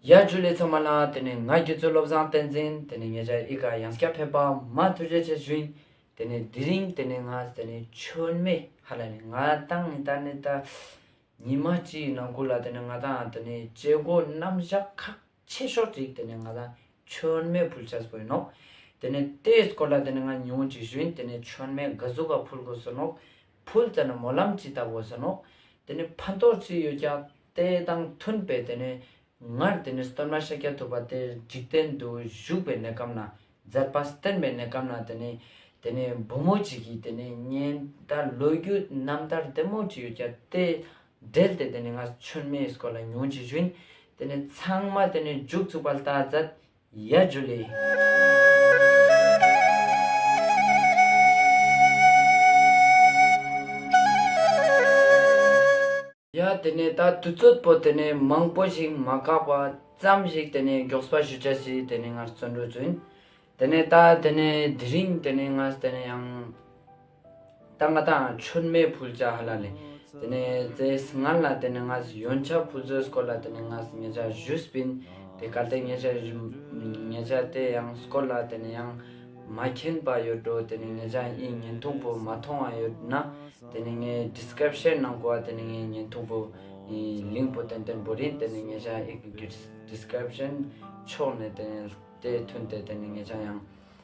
ཡར་རྒྱུགས་ལས་ཚང་མ་ལ་དེ་ནས་ང་རྒྱུད་ཚོད་བློ་བཟང་བསྟན་འཛིན་དེ་ནས་ངེད་ཅག་ཨི་ཀ་ཡང་སྐྱ་ཕེབས་པ་མ་ཐུགས་རྗེ་ཆེ་ཞུ་ཡིན་དེ་ནས་དེ་རིང་དེ་ནས་ང་དེ་ནས་ཆོལ་མེ་ཧ་ལ་ནས་ང་དང་ཨི་ཏཱ་ནི་ཏཱ་ཉི་མ་སྤྱི་ཡི་ནང་ཁུལ་ལ་དེ་ནས་ང་དང་དེ་ནས་བྱེད་སྒོ་རྣམ་གཞག་ཁག་ཆེ་ཤོག་ཅིག་དེ་ནས་ང་དང་ཆོལ་མེ་ཕུལ་ཆགས་པོ་ཡིན་ནོ་དེ་ནས་དེའི་སྐོར་ལ་དེ་ནས་ང་ཉུང་ཅིག་ཞུ་ཡིན་དེ་ནས་ཆོལ་མེ་འགའ་ཟུག་ག་ཕུལ་དགོས་ཟེར་ནོག་ཕུལ་དེ་ནས་མོ་ལམ་ཅི་ལྟ་དགོས་ཟེར་ནོག་དེ་ནས་ཕན་ཐོག་ཅི་ཡོད་ཀྱང། དེ་དང་མཐུན་པའི་དེ་ནས་སྔར་དེ་ནས་སྟོན་མ་ཤཱ་ཀྱ་ཐུབ་པ་དེར་འཇིག་རྟེན་དུ་བཞུགས་པའི་གནས་སྐབས་ན་མཛད་པ་སྟོན་པའི་གནས་སྐབས་ན་དེ་ནས་དེ་ནས་བུ་མོ་གཅིག་གིས་དེ་ནས་གཉེན་ད་ལོ་རྒྱུ་རྣམ་ཐར་དེ་མོ་གཅིག་ཡོད་ཀྱ་དེ་འབྲེལ་ཏེ་དེ་ནས་ང་ཆོན་མའི་སྐོར་ལ་ཉུང་ཅིག་ཞུན་དེ་ནས་ཚང་མ་དེ་ནས་འཇུག་ཚུགས་པ་ལྟ་མཛད་ཡ་རྒྱུ་ལས། ཡ་དེ་ནས་ད་དུས་ཚོད་པོ་དེ་ནས་མང་པོ་ཞིག་མ་བཀག་པ་ཙམ་ཞིག་དེ་ནས་མགྱོགས་པ་ཞུ་བྱ་ཞིག་དེ་ནས་ངར་བཙོན་འགྲོ་བཙུན་དེ་ནས་ད་དེ་ནས་དེ་རིང་དེ་ནས་ངས་དེ་ནས་ཡང། ད་ང་ད་ཆོས་མེད་ཕུལ་བྱ་ཧ་ལ་ལས། དེ་ནས་ཙེས་ངར་ལ་དེ་ནས་ང་ཟི་ཡོན་ཆ་ཕུལ་བཟོས་སྐོར་ལ་དེ་ནས་ང་ཟི་ཉེ་ཆ་བཞུས་སྤིན། དེ་གལ་ཏེ་ཉེ་ཆ་བཞུ་ཉེ་ཆ་དེ་ཡང་སྐོར་ལ་དེ་ནས་ཡང་མ་མཁྱེན་པ་ཡོད་འགྲོ་དེ་ནས་ཉེ་ཆ་ཨིན་བརྙན་ཐུང་པོ་མ་མཐོང་བ་ཡོད་ན་དེ་ནས་ངའི Description ནང་གོ་བ་དེ་ནས་ངའི་བརྙན་ཐུང་པོ་ཨིན Link པོ་ཏན་ཏན་པོ་རིན་དེ་ནས་ཉེ་ཆ་ཨིག་གི Description ཕྱོགས་ནས་དེ་ནས་ལྟས་ཐུན་དེ་དེ་ནས་ཉེ་ཆ་ཡང།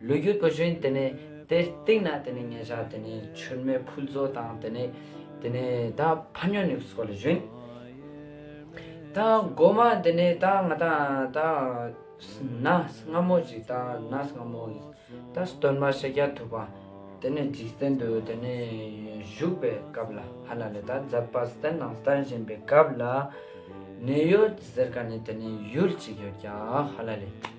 ལུས་རྒྱུ་དུ་བཞིན་དེ་ནས་དེ་སྟེང་ན་དེ་ནས་ཉེ་བཞག་དེ་ནས་ཆུར་མེ་ཕུལ་བཙོ་དང་དེ་ནས་དེ་ནས་ད་ཕ་ཉོ་ནི་སོགས་ལ་བཞིན། ད་སྒོ་མ་དེ་ནས་ད་ང་ད་ད་ན་སྔ་མོ་ཅིག་ད་ན་སྔ་མོ་ད་སྟོན་མ་ཤཱ་ཀྱ་ཐུབ་པ་དེ་ནས་འཇིག་རྟེན་དུ་དེ་ནས་བཞུགས་པའི་སྐབས་ལ་ཧ་ལ་ལས་ད་མཛད་པ་སྟན་དང་སྟན་བཞེངས་པའི་སྐབས་ལ་ནི་ཡོད་ཟེར་ག་ནས་དེ་ནས་ཡུལ་ཅིག་ཡོད་ཀྱང་ཧ་ལ་ལས།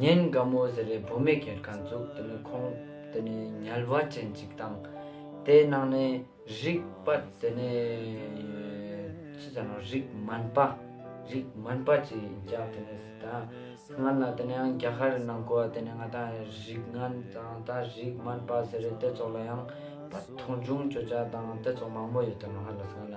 ཉིན་འགའ་མོ་ཟེར་རེ་བུ་མེད་ཁེར་ཁ་འཛུགས་དེ་ནི་ཁོང་དེ་ནི་ཉལ་བ་ཅན་ཅིག་དང། དེ་ནང་ནས་རིག་པ་དེ་ནི། ཅི་ཟེར་ནོ་རིག་སྨན་པ། རིག་སྨན་པ་ཅིག་ཡིན་ཀྱ་དེ་ནི་ཟེར་ད། སྔར་ན་དེ་ནའང་རྒྱ་གར་རི་ནང་གོ་དེ་ནི་ང་ད་རིག་སྔན་དང་ད་རིག་སྨན་པ་ཟེར་རེ་དེ་ཚོགས་ལ་ཡང་བར་མཐོང་ཆུང་བྱོས་ཀྱ་དང་དེ་ཚོགས་མང་མོ་ཡོད་དེ་མ་ཧ་ལ་སྔ་ན་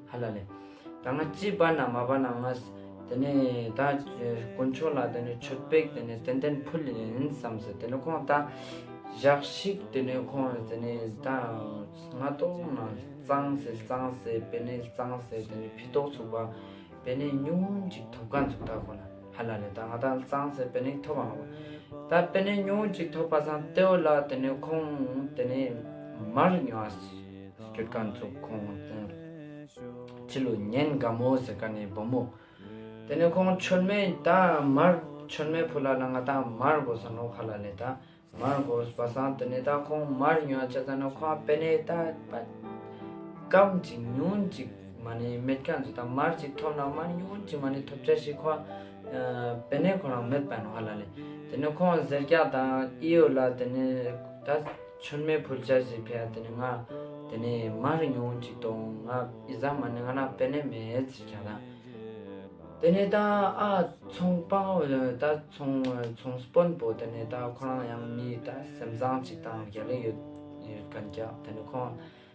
ཧ་ལ་ལས། ད་ང་ཅི་བར་ན་མ་བར་ན་ང། དེ་ནས་ད་དཀོན་མཆོག་ལ་དེ་ནས་ཆོས་དཔེག་དེ་ནས་ཏན་ཏན་ཕུལ་ཡིན་བསམ་ཟེར་དེ་ནས་ཁོང་ད། བཞག་ཤིག་དེ་ནས་ཁོང་དེ་ནས་ད། ང་ཏོག་ང་གཙང་ཟེར་གཙང་ཟེར་བེ་ནས་གཙང་ཟེར་དེ་ནས་ཕི་ཏོག་ཚུགས་པ། བེ་ནས་ཉུང་ཅིག་ཐོབ་ག་འཛུགས་ད་ཁོ་ན་ཧ་ལ་ལས་ད་ང་ད་གཙང་ཟེར་བེ་ནས་ཐོབ་བ་ང་བ། ད་བེ་ནས་ཉུང་ཅིག་ཐོབ་པ་སང་ཏེའོ་ལ་དེ་ནས་ཁོང་དེ་ནས་མར་ཉོ་བ། སྐྱེ་རྒ་མཚོ་ཁོང་དང། ཕྱི་ལོ་ཉིན་དགའ་མོ་ཟེར་ག་ནས་བུ་མོ། དེ་ནས་ཁོང་མཆོད་མེ་དང་མར་མཆོད་མེ་ཕུ་ལ་ལ་ང་དང་མར་གོ་ས་ནོ་ཁ་ལ་ལེ་དང་མར་གོ་ས་བ་སང་དེ་ནས་དང་ཁོང་མར་ཉོ་ཅ་ཙ་ནོ་ཁོང་པེ་ནས་ད་པ་སྐམ་ཅིག་ཉུང་ཅིག་མ་ནས་མེད་རྒྱ་མཚོ་དང་མར་ཅིག་ཐོབ་ན་མར་ཉུང་ཅིག་མ་ནས་ཐོབ་ཅ་ཞིག་ཁོང་པེ་ནས་ཁོ་རང་མེད་པ་ནོ་ཁ་ལ་ལེ་དེ་ནས་ཁོང་ཟེར་རྒྱ་དང་ཨི་ཡོ་ལ་དེ་ནས་ད། ཆོལ་མེད་ཕུལ་བྱ་ཞེས་ཕེ་ཨ་དེ་ནས་ང་དེ་ནས་མ་རེ་ཉུང་ངུ་ཅིག་དང་ང་ཨི་ཟ་མ་ནི་ང་ན་པེ་ནེ་མེ་ཨེ་ཚི་ཁྱ་ད་དེ་ནས་ད་ཨ་ཚོང་སྤང་ད་ཚོང་ཚོང་སྤོན་པོ་དེ་ནས་ད་ཁོ་རང་ཡང་མི་ད་སེམས་བཟང་ཅིག་དང་རྒྱ་ལི་ཡོད་རེད་གན་རྒྱ་དེ་ནས་ཁོང་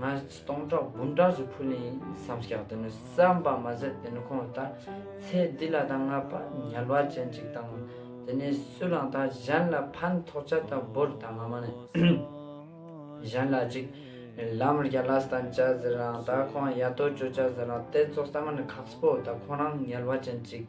ང་སྟོང་ཕྲག་འབུམ་ཕྲག་ཅིག་ཕུལ་ཡིན་བསམ་ཤག་དེ་ནི་བསམ་པ་མ་ཟད་དེ་ནི་ཁོང་གིས་ད་ཚེ་འདི་ལ་ད་ང་པ་ཉལ་བ་ཅན་ཅིག་དང། དེ་ནས་སུ་ལའང་ད་གཞན་ལ་ཕན་ཐོགས་ཆ་ད་བོར་ད་ང་མ་ནི་གཞན་ལ་ཅིག་ལམ་རྒྱ་ལ་སྟན་བཅའ་ཟེར་རང་ད་ཁོང་ཡ་ཏོ་ཅོ་བཅའ་ཟེར་རང་དེ་ཚོ་བསམ་པ་ནི་ཁག་པོ་ད་ཁོང་རང་ཉལ་བ་ཅན་ཅིག་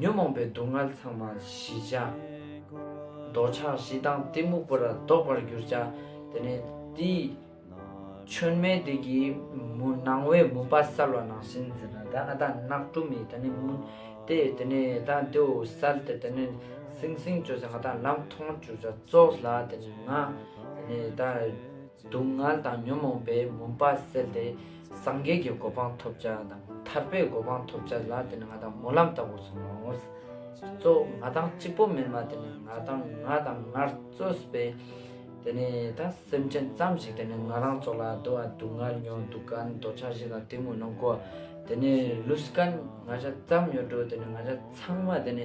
ཉོན་མོངས་པའི་སྡུག་བསྔལ་ཚང་མ་ཞི་བྱ། འདོད་ཆགས་བཞི་དང་གཏི་མུག་པོ་ར་བཟློག་པར་གྱུར་བྱ། དེ་ནས་དེའི་ཆོས་མེ་དེ་གི་མུ་ནང་བའི་མུན་པ་སལ་བ་ནང་བཞིན་འཛིན་ན་ད་ཨ་ད་ནག་དྲུ་མི་ད་ནི་མུན་ཏེ་དེ་ནས་ད་དེའུ་སལ་ཏེ་དེ་ནས་སིང་སིང་བྱོས་ཟེ་ང་ད་ལམ་མཐོང་གྱུར་བྱ་བཙོག་ལ་དེ་ནས་ང་དེ་ནས་ད། སྡུག་བསྔལ་དང་ཉོན་མོངས་པའི་མུན་པ་སེལ་ཏེ། སངས་རྒྱས་ཀྱི་གོ་འཕང་ཐོབ་བྱ་དང་ཐར་པའི་གོ་འཕང་ཐོབ་བྱ་ལ་དེ་ནི་ང་དང་སྨོན་ལམ་ལྟ་བུར་སོང་ངོ། གཙོ་བོ་ང་དང་གཅིག་པོ་མིན་པ་དེ་ནི་ང་དང་ང་དང་ངར་རྩོད་པས། དེ་ནས་ད་སེམས་ཅན་ཙམ་ཞིག་དེ་ནི་ང་རང་ཚོ་ལ་དུ་བ་སྡུག་བསྔལ་ཉོ་སྡུག་ག་ནི་འདོད་ཆགས་བཞི་དང་དེ་མུན་ནོ་གོ། དེ་ནས་ལུས་སྐལ་ང་བཞི་ཙམ་ཡོད་འགྲོ་དེ་ནི་ང་བཞི་ཚང་མ་དེ་ནི།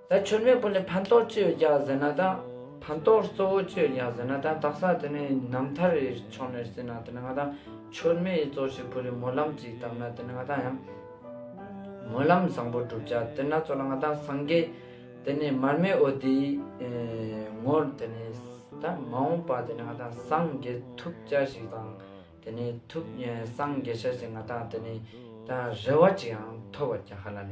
ད་ཆོས་མེད་པོ་ནི་ཕན་ཏོག་ཅི་ཡོད་རྒྱག་ཟེར་ན་དང། ཕན་ཏོག་གཙོ་བོ་ཅི་ཡོད་རྒྱག་ཟེར་ན་དང་དག་ས་དེ་ནི་ནམ་ཐར་རེ་ཆོག་མེར་སྲིད་ན་དེ་ནི་ང་དང་ཆོས་མེད་ཡི་གཙོ་ཞིག་བུ་རི་མོ་ལམ་ཅིག་བཏབ་ན་དེ་ནི་ང་དང་ཡང་མོ་ལམ་བཟང་པོ་བསྒྲུབ་བྱ་དེ་སྣ་ཚོགས་ལ་ང་དང་སངས་རྒྱས་དེ་ནི་མར་མེ་འོ་དེའི་ངོར་དེ་ནི་ད་མ་འོངས་པ་དེ་ནི་ང་དང་སངས་རྒྱས་ཐུགས་བཅའ་ཞིག་དང་དེ་ནི་ཐུགས་སངས་རྒྱས་ཤ་ཞིག་ང་དང་དེ་ནི་ད་རེ་བ་ཅིག་ཡང་ཐོབ་བ་རྒྱག་ཧ་ལ་ལས།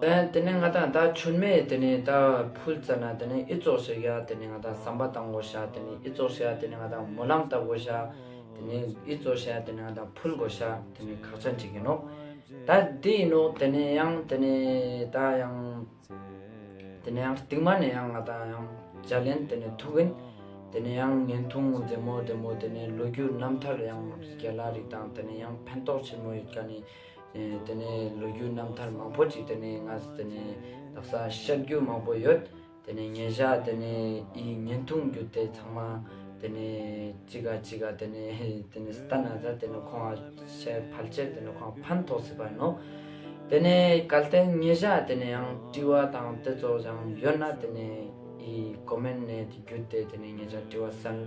དེ་ནས་ང་དང་ད་ཆོས་མེད་དེ་ནས་ད་ཕུལ་བཙལ་ན་དེ་ནས་ཨི་ཙོག་ཤི་ག་དེ་ནས་ང་དང་ཟམ་པ་དང་དགོ་ཤ་དེ་ནས་ཨི་ཙོག་ཤི་ག་དེ་ནས་ང་དང་མོ་ལམ་ལྟ་དགོ་ཤ་དེ་ནས་ཨི་ཙོག་ཤི་ག་དེ་ནས་ང་དང་ཕུལ་དགོ་ཤ་དེ་ནས་ཁག་ཆ་འགྲིག་གིན་ནོ་ད་དེ་ཡིན་ནོ་དེ་ནས་ཡང་དེ་ནས་ད་ཡང་དེ་ནས་ཡང་རྟིང་མ་ནས་ཡང་ང་དང་ཡང་ཇ་ལེན་དེ་ནས་ཐུག་གིན་དེ་ནས་ཡང་ངན་ཐུང་མཛེས་མོ་དེ་མོ་དེ་ནས་ལོ་རྒྱུས་རྣམ་ཐར་ཡང་རྒྱ་ལ་རིག་དང་དེ་ནས་ཡང་ཕན་ཐོག་ཆེན་མོ་ཡོད་ག་ནས། དེ་ནས་ལོ་རྒྱུས་རྣམ་ཐར་མང་པོ་ཅིག་དེ་ནས་ང་ཚོ་དེ་ནས་ལག་ས་བཤགས་རྒྱུ་མང་པོ་ཡོད། དེ་ནས་ཉེ་བཞག་དེ་ནས་ཨི་བརྙན་ཐུང་རྒྱུ་དེ་ཚང་མ་དེ་ནས་གཅིག་ག་གཅིག་ག་དེ་ནས་དེ་ནས་སྟ་ན་ཚ་དེ་ནས་ཁོང་ཨ་ཕྱི་ཕལ་ཆེར་དེ་ནས་ཁོང་ཨ་ཕན་ཐོགས་སྲིད་པ་ནོ། དེ་ནས་གལ་ཏེ་ཉེ་བཞག་དེ་ནས་ཡང་བཀྲི་བ་དང་དེ་ཚོ་ཡང་ཡོད་ན་དེ་ནས་ཨི་ཀོ་མེན་ནས་དེ་རྒྱུ་དེ་དེ་ནས་ཉེ་བཞག་བཀྲི་བ་སེལ།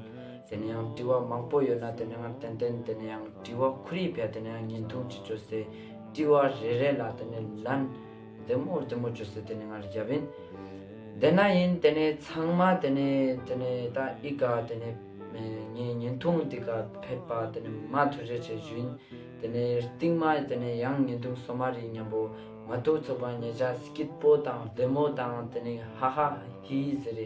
དེ་ནས་ཡང་དྲི་བ་མང་པོ་ཡོད་ན་དེ་ནས་ཡང་ཏན་ཏན་དེ་ནས་ཡང་དྲི་བ་ཁོར་ཡིག་བས་དེ་ནས་ཡང་ཉིན་ཐུང་གཅིག་བཅོ་སའི་དྲི་བ་རེ་རེ་ལ་དེ་ནས་ལན་བདེ་མོ་བདེ་མོ་བཅོ་སའི་དེ་ནས་ཡང་རྒྱབ་ཡིན། དེ་ན་ཡིན་དེ་ནས་ཚང་མ་དེ་ནས་དེ་ནས་ད་ཨི་ག་དེ་ནས་ངའི་ཉིན་ཐུང་འདི་ག་ཕེབས་པ་དེ་ནས་མ་ཐུ་རེ་བྱས་བཞུ་ཡིན། དེ་ནས་རྟིང་མ་དེ་ནས་ཡང་ཉིན་ཐུང་སོ་མ་རིག་སྙམ་པོ་མ་ཐུག་ཚོགས་པ་ཉེ་ཆ་སྐྱིད་པོ་དང་བདེ་མོ་དང་དེ་ནས་ཧ་ཧ་ཧི་ཧི་ཟེར་རེ